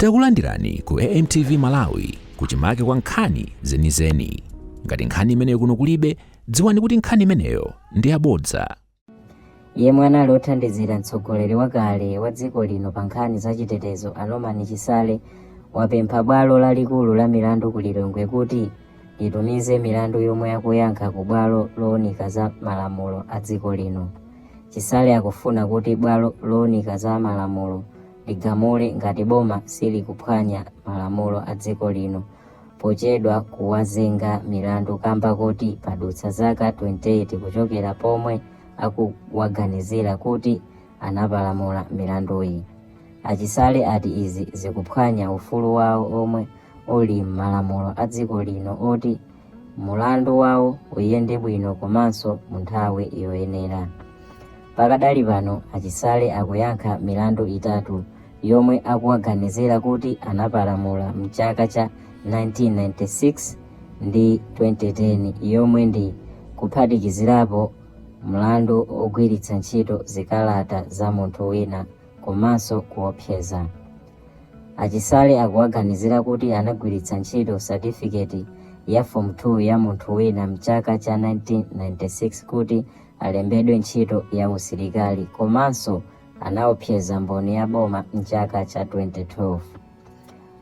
Takulandirani ku AMTV Malawi kuchimake kwa nkhani zenizeni. Ngati nkhani imeneyo kuno kulibe, dziwani kuti nkhani imeneyo ndi yabodza. yemwe anali othandizira mtsogoleri wakale wa dziko lino pa nkhani za chitetezo a Norman Chisale wapempha bwalo lalikulu la milandu ku Lilongwe kuti litumize milandu yomwe akuyankha ku bwalo lowunika za malamulo a dziko lino chisale akufuna kuti bwalo lowunika za malamulo ligamule ngati boma silikuphwanya malamulo a dziko lino pochedwa kuwazenga milandu kamba kuti padutsa zaka 28 kuchokera pomwe akuwaganizira kuti anapalamula milandu iyi a Chisale ati izi zikuphwanya ufulu wawo omwe uli m'malamulo a dziko lino oti mulandu wawo uyende bwino komanso mu nthawi yoyenera. Pakadali pano, a Chisale akuyankha milandu itatu yomwe akuwaganizira kuti anapalamula m'chaka cha 1996 ndi 2010 yomwe ndi kuphatikizirapo mlandu wogwiritsa ntchito zikalata za munthu wina komanso kuopseza. A Chisale akuwaganizira kuti anagwiritsa ntchito certificate ya form 2 ya munthu wina mchaka cha 1996 kuti alembedwe ntchito ya usilikali komanso anaopseza mboni ya boma mchaka cha 2012.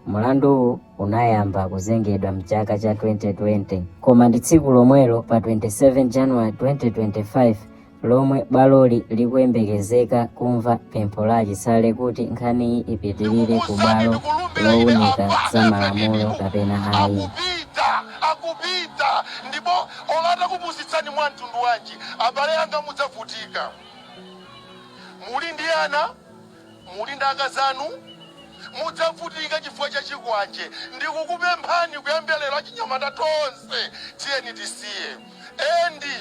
Mulanduwu unayamba kuzengedwa mchaka cha 2020 koma ndi tsiku lomwelo pa 27 January 2025 lomwe bwaloli likuyembekezeka kumva pempho la a Chisale kuti nkhaniyi ipitirire ku bwalo lowunika za malamulo kapena ayi akupita akupita ndipo olata kupusitsani mwa mtundu wanji abale anga mudzavutika muli ndi ana muli ndi akazanu mudzavutika chifukwa cha chikwanje ndikukupemphani kuyambira lero achinyamata tonse tiyeni tisiye endi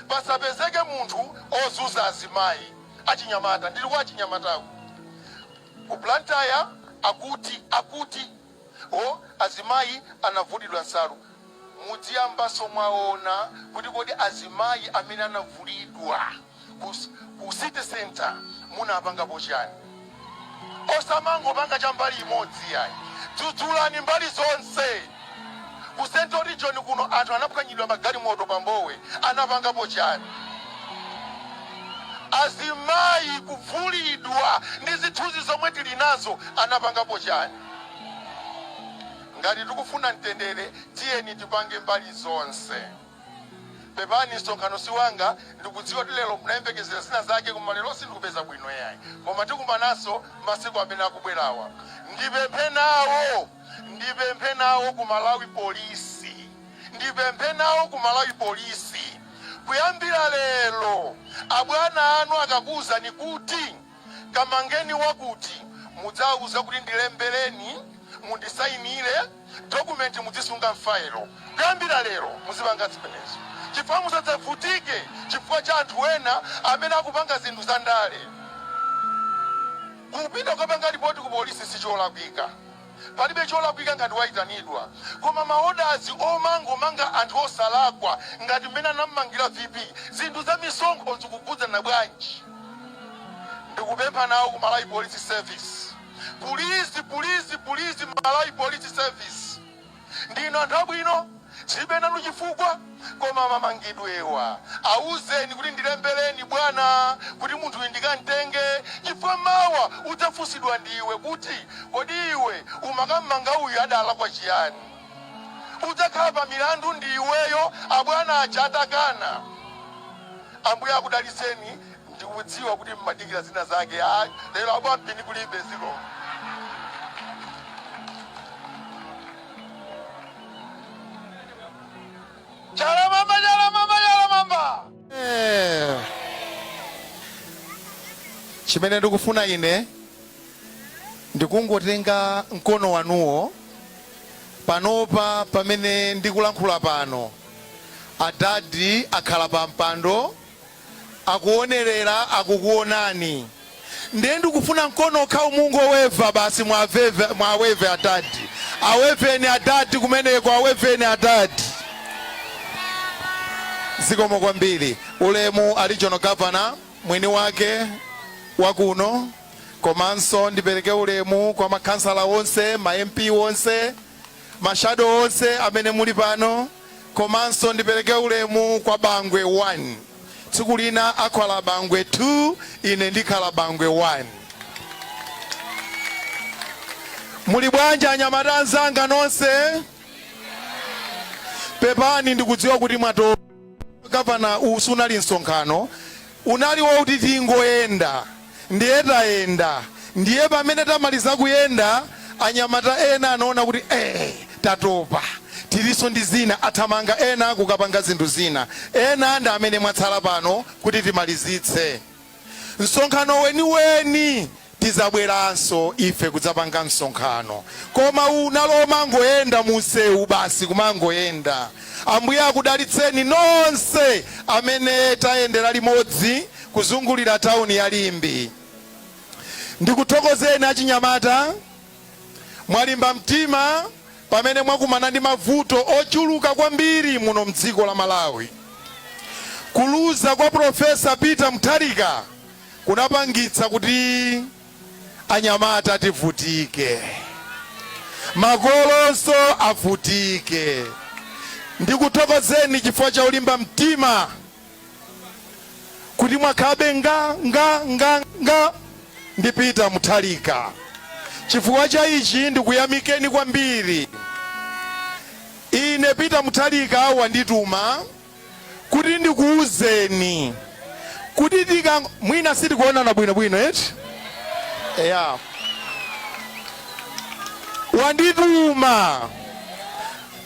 pasapezeke munthu ozunza azimayi, achinyamata ndili kwa achinyamataku ku Blantyre akuti akuti o azimayi anavulidwa nsalu mudziyambanso mwaona kuti kodi azimayi amene anavulidwa ku ku city centre munapangapo chani? osamangopanga cha mbali imodzi yayi dzudzulani mbali zonse ku central region kuno anthu anaphwanyidwa magalimoto pa Mbowe anapangapo chani azimayi kuvulidwa ndi zithunzi zomwe tili nazo anapangapo chani ngati tikufuna mtendere tiyeni tipange mbali zonse Pepani msonkhano siwanga ndikudziwa kuti lero mumayembekezera zina zake koma lero sindikupeza bwino yayi koma tikumananso masiku amene akubwerawa ndipemphe nawo ndipemphe nawo ku Malawi police ndipemphe nawo ku Malawi police kuyambira lero abwana anu akakuuzani kuti kamangeni wakuti mudzawauza kuti ndilembeleni mundisainile document mudzisunga mfailo kuyambila lero muzipanga zimenezo chifukwa musadzavutike chifukwa cha anthu ena amene akupanga zinthu za ndale kupita kukapanga lipoti ku polisi sicholakwika Palibe cholakwika ngati waitanidwa koma maodazi omangomanga anthu osalakwa ngati mmene anammangira VP zinthu za misonkho zikukhudzana bwanji ndikupempha nawo ku Malawi Police Service pulizi pulizi pulizi Malawi Police Service. Ndinu anthu abwino tilibe nanu chifukwa koma mamangidwewa auzeni kuti ndilembeleni bwana kuti munthuyu ndikamtenge chifukwa mawa udzafunsidwa ndiwe kuti kodi iwe umakammanga uyu adalakwa chiyani udzakhala pa milandu ndiiweyo abwana aja atakana. Ambuye akudalitseni. ndikudziwa kuti mmadikira zina zake ayi lero abwampini kulibe ziko chalamamba chalamamba chalamamba Eh. chimene ndikufuna ine ndikungotenga mkono wanuwo panopa pamene ndikulankhula pano adadi akhala pa mpando akuonerera akukuonani nde ndikufuna mkono okhawo mungoweva basi mwaweva mwaweva adadi aweveni adadi kumeneko aweveni adadi zikomo kwambiri ulemu a Regional Governor mwini wake wakuno komanso ndipereke ulemu kwa makhansala onse ma mp onse mashado onse amene muli pano komanso ndipeleke ulemu kwa bangwe 1 tsiku lina akhala bangwe 2 ine ndikhala bangwe 1. Muli bwanji anyamata anzanga nonse? Pepani ndikudziwa kuti mwatopa Governor uwu sunali msonkhano unali wouti tingoyenda. Ndiye tayenda. Ndiye pamene tamaliza kuyenda, anyamata ena anaona kuti ee, tatopa, tilinso ndi zina, athamanga ena kukapanga zinthu zina. Ena ndi amene mwatsala pano kuti timalizitse. Msonkhano weniweni tizabweranso ife kudzapanga msonkhano. Koma uwu unali omangoyenda munsewu basi kumangoyenda. Ambuye akudalitseni nonse amene tayendera limodzi. kuzungulira tawuni ya Limbe. Ndikuthokozeni achinyamata, mwalimba mtima pamene mwakumana ndi mavuto ochuluka kwambiri muno m'dziko la Malawi. Kuluza kwa Professor Peter Mutharika kunapangitsa kuti anyamata tivutike, makolonso avutike. Ndikuthokozeni chifukwa cha ulimba mtima kuti mwakhalabe nga nga nga nga ndi Peter Mutharika. Chifukwa cha ichi ndikuyamikeni kwambiri. Ine Peter Mutharika wandituma kuti ndikuwuzeni kuti tika mwina sitikuonana bwinobwino eti eya wandituma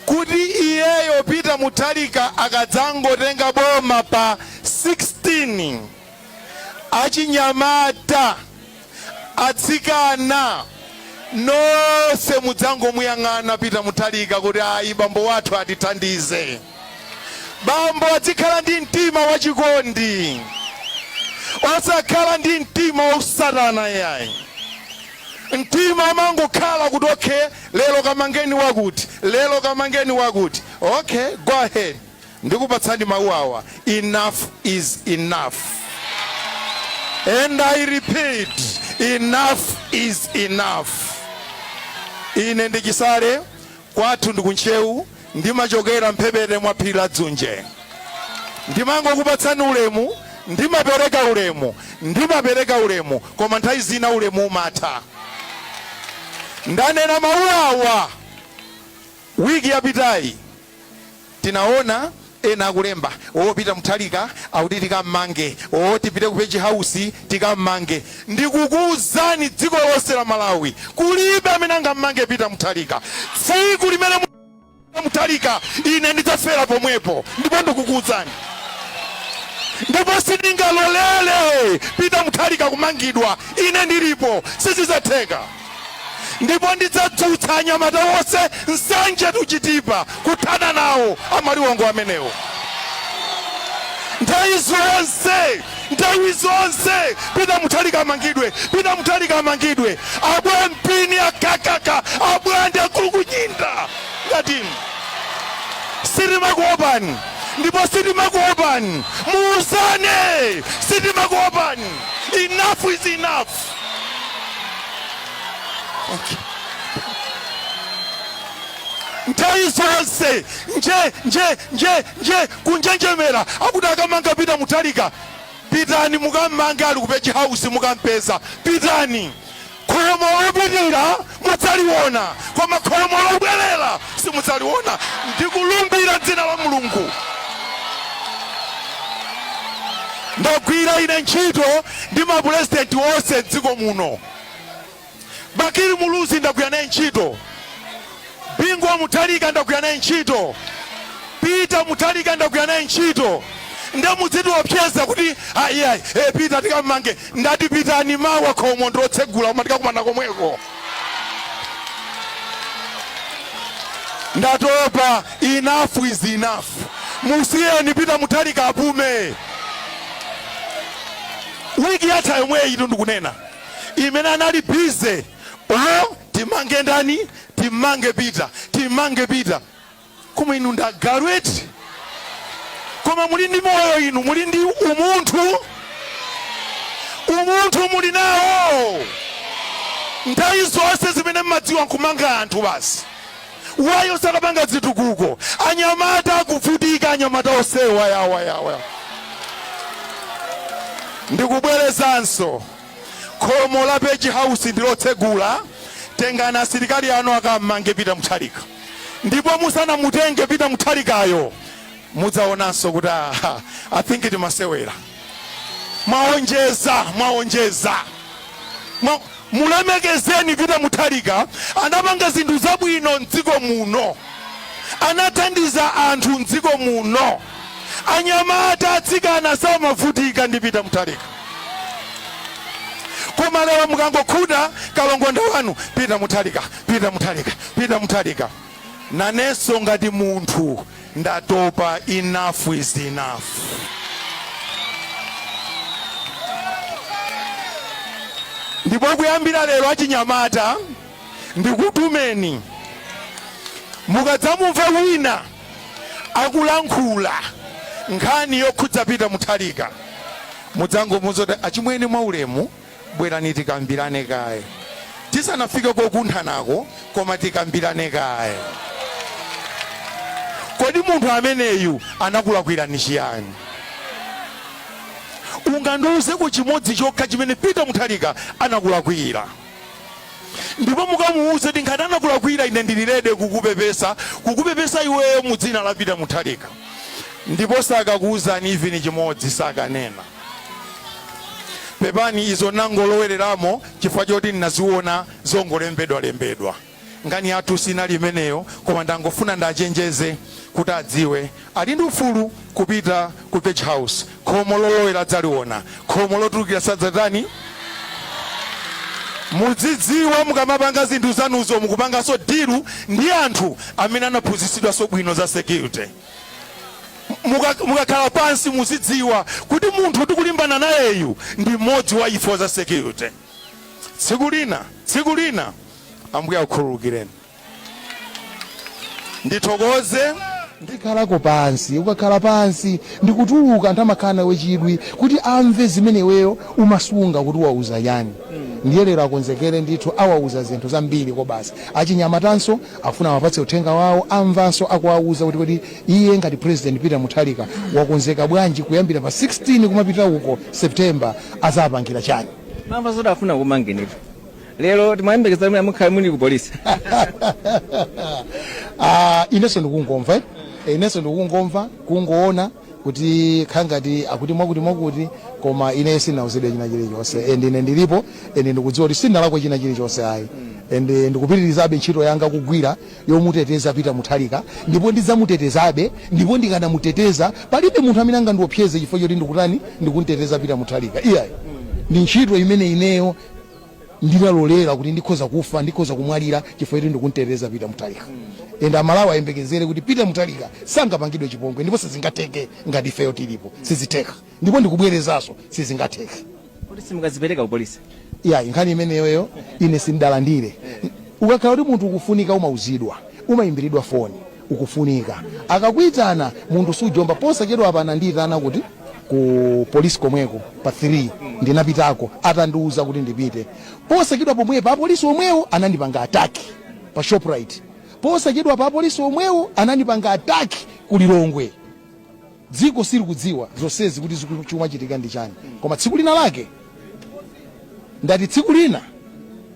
kuti iyeyo Peter Mutharika akadzangotenga boma pa 16 achinyamata, atsikana nonse mudzangomuyang'ana Peter Mutharika kuti ayi bambo wathu atithandize. Bambo adzikhala ndi mtima wachikondi osakhala ndi mtima wausatana yayi. Mtima umangokhala kuti ok lero kamangeni wakuti, lero kamangeni wakuti. Ok go ahead ndikupatsani mau awa enough is enough and I repeat enough is enough. Ine ndi Chisale Kwathu ndi ku Ntcheu, ndimachokera mphepete mwa phiri la Dzunje. Ndimangokupatsani ulemu, ndimapereka ulemu, ndimapereka ulemu, koma nthawi zina ulemu umatha. Ndanena mawu awa wiki yapitayi. Tinaona ena akulemba oo Peter Mutharika akuti tikammange oo tipite ku Page House tikammange ndikukuuzani dziko lonse la Malawi kulibe amene angammange Peter Mutharika tsiku limene mudzamanga Peter Mutharika ine ndidzafera pomwepo ndipo ndikukuuzani ndipo sindingalolele Peter Mutharika kumangidwa ine ndilipo sizizatheka. ndipo ndidzadzutsa anyamata onse Nsanje to Chitipa kuthana nawo amaliwongo amenewo nthawi zonse nthawi zonse Peter Mutharika amangidwe Peter Mutharika amangidwe abwampini akakaka abwande akulukunyinda ngati inu sitimakuopani ndipo sitimakuopani muuzane sitimakuopani enough is enough okay. nthawi zonse nje nje nje nje kunjenjemera akuti akamanga Peter Mutharika pitani mukammange ali ku Page House mukampeza pitani khomo lopitira mudzaliwona koma khomo lobwerera simudzaliwona ndikulumbira dzina la mulungu ndagwira ine ntchito ndi mapurezidenti onse mdziko muno Bakili Muluzi ndagwira naye ntchito Bingu wa Mutharika ndagwira naye ntchito Peter Mutharika ndagwira naye ntchito nde mudzitiopseza kuti ayi ayi e, Peter tikammange Ndati pitani mawa khomo ndilotsegula koma tikakumane komweko. Ndatopa enough is enough. Musiyeni Peter Mutharika apume. Wiki yatha yomweyitu ndikunena imene anali busy o timange ndani timmange Peter timmange Peter Koma inu ndi agalu eti? Koma muli ndi moyo inu, muli ndi umunthu, umunthu muli nawo. Nthawi zonse zimene mmadziwa nkumanga anthu basi, why osakapanga zitukuko, anyamata akuvutika, anyamata onsewa awa awa. Ndikubwerezanso. Khomo la Page House ndilotsegula tengani asilikali anu akammange Peter Mutharika ndipo musanamutenge Peter Mutharikayo mudzaonanso kuti aha I think timasewera mwaonjeza mwaonjeza Mwa- mulemekezeni Peter Mutharika anapanga zinthu zabwino mdziko muno anathandiza anthu mdziko muno anyamata atsikana samavutika ndi Peter Mutharika Koma lero mukangokhuta kalongonda wanu Peter Mutharika, Peter Mutharika, Peter Mutharika. Nanenso ngati munthu ndatopa enough is enough. Ndipo kuyambira lero achinyamata ndikutumeni mukadzamumva wina akulankhula nkhani yokhudza Peter Mutharika mudzangomuuza kuti achimwene mwaulemu bwerani tikambirane kaye tisanafike kokunthanako koma tikambirane kaye kodi munthu ameneyu anakulakwirani chiyani ungandiuzeko chimodzi chokha chimene Peter Mutharika anakulakwira ndipo mukamuwuze kuti ngati anakulakwira ine ndili rede kukupepesa kukupepesa iweyo mu dzina la Peter Mutharika ndipo sakakuwuzani even chimodzi sakanena pepani izo nangolowereramo chifukwa choti ndinaziona zongolembedwa lembedwa Nkhani yathu sinali imeneyo koma ndangofuna ndachenjeze kuti adziwe ali ndi ufulu kupita ku Page House khomo lolowera adzaliona khomo lotulukira sadzalitani. Mudzidziwa mukamapanga zinthu zanuzo mukupangaso deal ndi anthu amene anaphunzitsidwaso bwino za security. Mukakhala pansi muzidziwa kuti munthu tikulimbana nayeyu ndi mmodzi wa ife wa za security. Tsiku lina, tsiku lina Ambuye akukhululukireni. Ndithokoze. Ndikhalako pansi. Ukakhala pansi ndi kutuluka anthu amakhala nawe chidwi kuti amve zimene iweyo umasunga kuti awauza chani. Ndiye lero akonzekere ndithu awauza zinthu zambiri kobasi. Achinyamatanso akufuna awapatse uthenga wawo amvanso akuwauza kuti kodi iye ngati President Peter Mutharika wakonzeka bwanji kuyambira pa 16 kumapita uko September azapangira chani. Mwamva zoti afuna kumangenitu. lero timayembekeza kuti mwina mukhale muli ku polisi Ah, inenso ndikungomva eh? Eh, inenso ndikungomva kungoona kukhala ngati akuti mwakuti mwakuti koma ine sinauzidwe china chilichonse and ine ndilipo and ndikudziwa kuti sinalakwa china chilichonse ayi and eh, ndikupitirizabe ntchito yanga kugwira yomuteteza Peter Mutharika ndipo ndidzamutetezabe ndipo ndikanamuteteza palibe munthu amene angandiopseze chifukwa choti ndikutani ndikunteteza Peter Mutharika iyayi ndi ntchito imene ineyo ndinalolera kuti ndikhoza kufa ndikhoza kumwalira chifukwa choti ndikumtetezera Peter Mutharika and aMalawi ayembekezere kuti Peter Mutharika sangapangidwe chipongwe ndipo sizingatheke ngati ifeyo tilipo sizitheka ndipo ndikubwerezanso sizingatheke kuti simukadzipereka ku polisi iyayi nkhani imeneyoyo ine sindalandire ukakhala kuti munthu ukufunika umauzidwa umayimbiridwa foni ukufunika. Akakuitana munthu sujomba. Posachedwapa anandiitana kuti ku police komweko pa 3 ndinapitako atandiuza kuti ndipite. Posachedwa pomwepa apolisi omwewo anandipanga attack pa Shoprite. Posachedwapa apolisi omwewo anandipanga attack ku Lilongwe. Dziko silikudziwa zonsezi kuti ziku- chikumachitika ndi chani, koma tsiku lina lake ndati tsiku lina